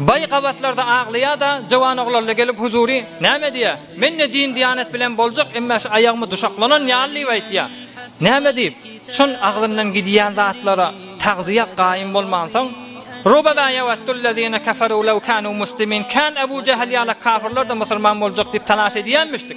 Baý gabatlarda aglaýa-da, jowan oglanla gelip huzury, näme diýä, Men-de din-diýanet bilen boljak, emma şu aýagymy duşaklanan ýaly diýip aýtýa. Näme diýip, şol agzyndan gidýän zatlara tagzyýa gaýym bolmansoň, Rubama ýawaddul-lezine keferu lew kanu muslimin, Kän Ebu Jähel ýaly kafirler-de musulman boljak diýip talaş edýänmişdi.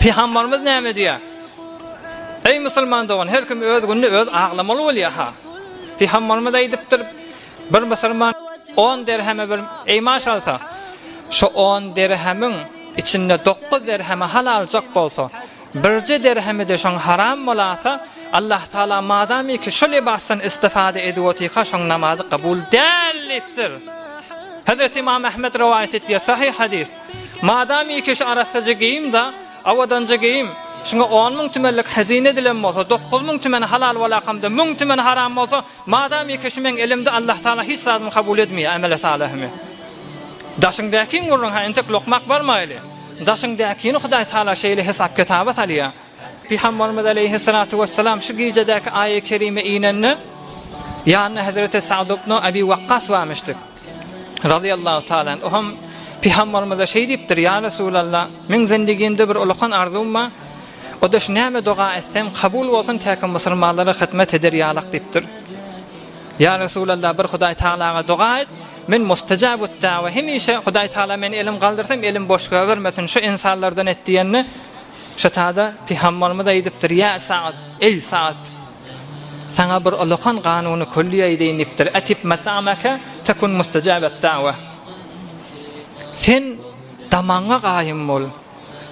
Pygambarymyz näme diýýär? Eý musulman dogan, her kim öz gününi öz aglamaly bolýar ha. Pygambarymyz aýdypdyr, bir musulman 10 derheme bir eý maşalsa, şu 10 derhemiň içinde 9 derheme halal çak bolsa, birje derhemi de şoň haram bolasa, Allah Taala madamy ki şu libasdan istifade edip otyka şoň namazy kabul däl diýipdir. Hazreti İmam Ahmed rowaýat etýär, sahih hadis. Madam ikeşi arassaja geýim-da, awadanja geýim, şuňa on müň tümenlik hezine edilen bolsa, dokuz müň tümeni halal bolakamda, müň tümeni haram bolsa, madam ikeşi meň elimde, Allahtagala hiç zadymy kabul edmeýär, emele salyhymy. Daşyň däkiň gurrun-ha, entek lokmak barmaýly. Daşyň däkini Hudaýtagala şeýle hesap-kitaba salýar. Pygamberimiz aleýhissalatu wessalam şu gijädäki aýa kerime inende ýanynda Hazreti Sa'd ibn Abi Waqqas barmyşdy. Razyýallahu ta'ala anhu hem Pygamberimize şeý diýipdir: "Ýa Resulallah, meň zendigimde bir ulakan arzuwym bar. O da şu näme doga etsem, kabul bolsun täki musulmanlara hyzmat eder ýalak" diýipdir. "Ýa Resulallah, bir Hudaý Ta'alaga doga et, men mustajabut da'wa, hemişe Hudaý Ta'ala meni elim galdyrsam, elim boş goýbermesin, şu insanlardan et" diýende, Şetada Pygamberimiz aýdypdyr, Ýa Sa'd, eý Sa'd! Saňa bir olakan kanuny külli aýdaýyn diýipdir, Atip mat'amaka takun mustajabad da'wa. Sen damagyňa gaýym bol.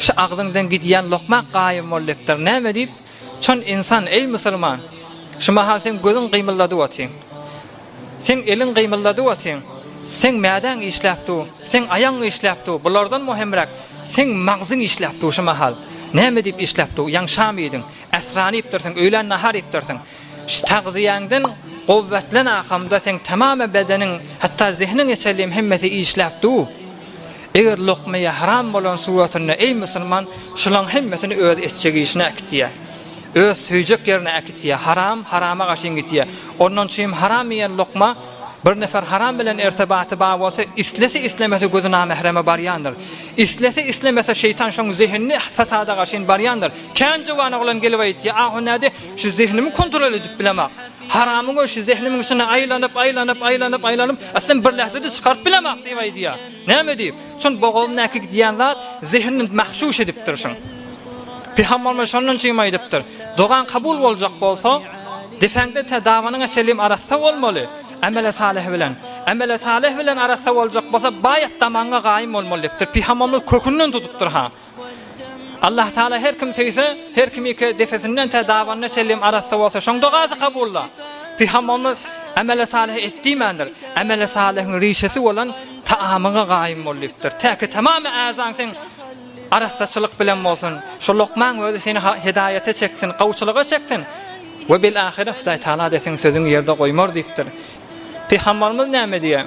Şu agzyňdan gidýän lokmak gaýym bol diýipdir. Näme diýip? Çyn ynsan, eý musulman! Şu mahal seň gözüň gymyldady otyň. Seň eliň gymyldady otyň. Seň mädäň işläp dur. Seň aýagyň işläp dur. Bulardan möhümräk, seň magzyň işläp dur şu mahal. Näme diýip işläp dur? Ýaňşam iýdiň. Äsran iýipdirsiň, öýlän nahar iýipdirsiň. Şu tagzyýäňden guwwetlen akamda seň tamam bedeniň hatda zehniň eçeliyim hemmesi işläp du. Eger lokmaya haram bolan suratynda eý musulman şulaň hemmesini öz etjek işine akitýa. Öz söýjek yerine akitýa haram harama gaşyň gitýa. Ondan çyym haram iýen lokma bir nefer haram bilen ertebaty ba bolsa islese islemese gözi namehreme barýandyr. Islese islemese şeýtan şoň zehinni fasada gaşyn barýandyr. Kän juwan oglan gelip aýtýa ahu näde Şu zehnimi kontrol edip bilemok. Haramyň öşi zehnimiň üstüne aýlanyp, aýlanyp, aýlanyp, aýlanyp, aslyn bir lähzede çykaryp bilemok diýip aýdýar. Näme diýip? Şun bogazyndaky gidýän zat zehnini mahşuş edipdir şun. Pygamberimiz şondan çym aýdypdyr. Dogan kabul boljak bolsa, defäňde te dawanyň eselim arassa bolmaly. Amele salih bilen. Amele salih bilen arassa boljak bolsa, baýat damaňa gaýym bolmaly diýipdir. Pygamberimiz kökünden tutupdyr ha. Allah Taala her kim söýse, her kim ýeke depesinden tä dabanyna çenli arassa bolsa, şoň dogasy kabulda. Pygamberimiz Ameli salyhy et diýmändir. Ameli salyhyň rişesi bolan taamyňa gaýym bol diýipdir. Täki tamamy äzaň seň arassaçylyk bilen bolsun. Şu lokmaň özi seni hidaýata çeksin, gawuçylyga çeksin. We bil ahire Hudaý Taala desin sözüň ýerde goýmar diýipdir. Pygamberimiz näme diýýär?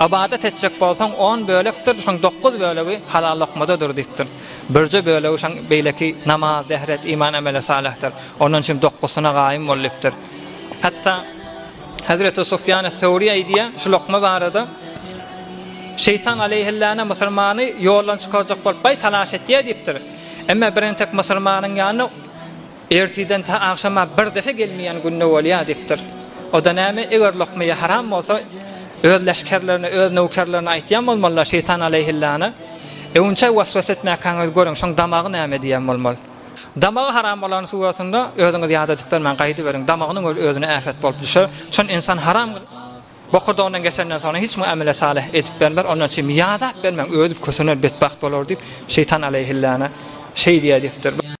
Ybadat etjek bolsaň, on bölekdir, şoň dokuz bölegi halal lokmadadyr diýipdir. Birje bölegi şoň beýleki namaz, dehret, iman, ameli salihdir. Ondan üçin dokuzysyna gaýym bol diýipdir. Hatda Hazreti Sufýan es-Sawri aýdýar şu lokma barada, Şeýtan aleýhillana musulmany ýoldan çykarjak bolup baý talaş etýär diýipdir. Emma birintek musulmanyň ýanyna Ertirden ta agşama bir depe gelmeýän günde bolýar diýipdir. O-da näme, eger lokmaýa haram bolsa, öz leşgerlerine, öz nöwkerlerine aýtýan bolmalylar, şeýtan aleýhillana, Öwünçäý waswas etmäkäňizi görüň, şoň damagy näme diýen bolmaly. Damagy haram bolany suratynda özüňiz ýad edip bermäň, gaýdyberýiň, damagynyň öl özüne äpet bolup düşer. Çün ynsan haram bokurdagyndan geçenden soňra hiç kime amele salyh edip bermer, ondan üçin ýadap bermäň, ödüp kösener, betbagt bolar diýip, şeýtan aleýhillana şeý diýýär diýipdir.